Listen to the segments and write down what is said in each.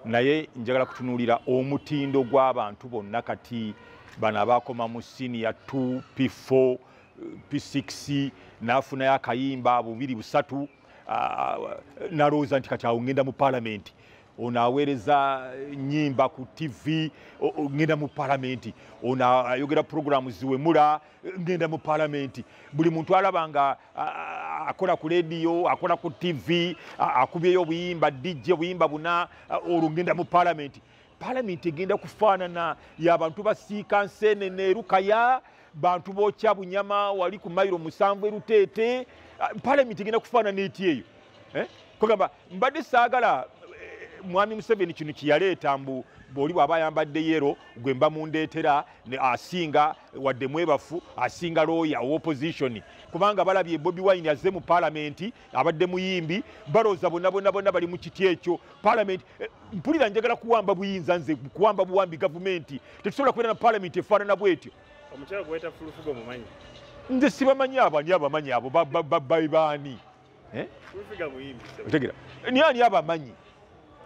naye njagala kutunuulira omutindo gw'abantu bonna kati bano abaakoma mu siniya 2 p4 p6 n'afunayo akayimba bubiri busatu nalowooza nti kati awo ngenda mu palamenti ono aweereza nyimba ku tv ngenda mu palamenti ono ayogera puroguramu ziwemula ngenda mu palamenti buli muntu alaba nga akola ku lediyo akola ku tv akubyeyo obuyimba dj obuyimba buna olwo ngenda mu palamenti palamenti egenda kufaanana yabantu basiika nsenene erukaya bantu bokya bunyama wali ku mairo musanvu eruteete palamenti egenda kufaanana eti eyo eh? kugamba mbadde saagala eh, mwami museveni kino kyeyaleeta mbu bwoli bwaba ayambadde yero gwe mba mundeetera asinga wadde mwebafu asinga looya owopozitioni kubanga balabye bobi wine azze mu palamenti abadde muyimbi balooza bona bona bona bali mu kiti ekyo palamenti eh, mpulira njagala kuwamba buyinza nze kuwamba buwambi gavumenti tetusobola kubeera na palamenti efaanana bwetyo nze sibamanyi abo ani abamanyi abo baani eh? otegera ni ani abamanyi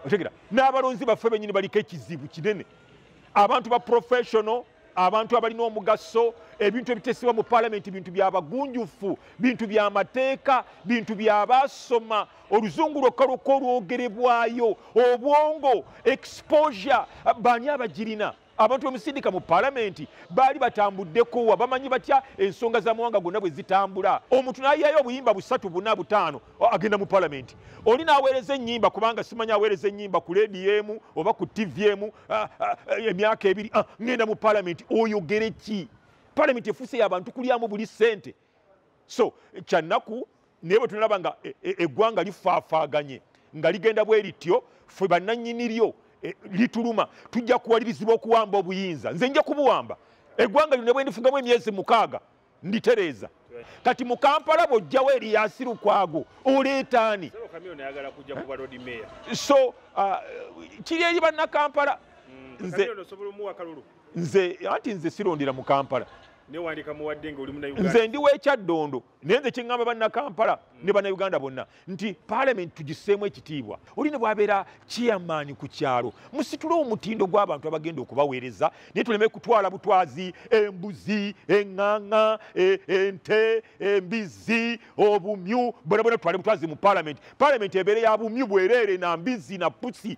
otegera n'abalonzi baffe benyini baliko ekizibu kinene abantu ba professional abantu abalina omugaso ebintu ebitesebwa mu palamenti bintu byabagunjufu bintu byamateeka bintu byabasoma oluzungu lwokka lwokka olwogerebwayo obwongo exposure bani abagirina abantu bemusindika mu palamenti baali batambuddekowa bamanyi batya ensonga za mawanga gonna bwe zitambula omuntu nayayo obuyimba busatu buna butaano agenda mu palamenti oli naweereza enyimba kubanga simanya aweereza enyimba ku lediyo emu oba ku tivi emu emyaka ebiri ngenda mu palamenti oyogere ki palamenti efuuse yabantu kulyamu buli sente so kyannaku naye bwetunalaba nga e, e, eggwanga lifaafaaganye nga ligenda bwe lityo fe bannanyini lyo e, lituluma tujja kuwalirizibwa okuwamba obuyinza nze nja kubuwamba eggwanga lyo ne bwendifugamu emyezi mukaaga nditereeza kati mu kampala bwojjawo eriyasi lukwago oleetaani so uh, kiri eri bannakampala mm, nze anti nze sirondera mu kampala nze ndi wekyaddondo naye nze kiŋŋamba bannakampala mm. ne bannauganda bonna nti palamenti tugiseemu ekitiibwa oli ne bwabeera chairman ku kyalo musitule omutindo gw'abantu abagenda okubaweereza naye tuleme kutwala butwazi embuzi eŋŋaŋa e, ente embizzi obumyu bonabona tutwale butwazi mu palamenti palamenti ebeere ya bumyu bwereere na mbizzi na pusi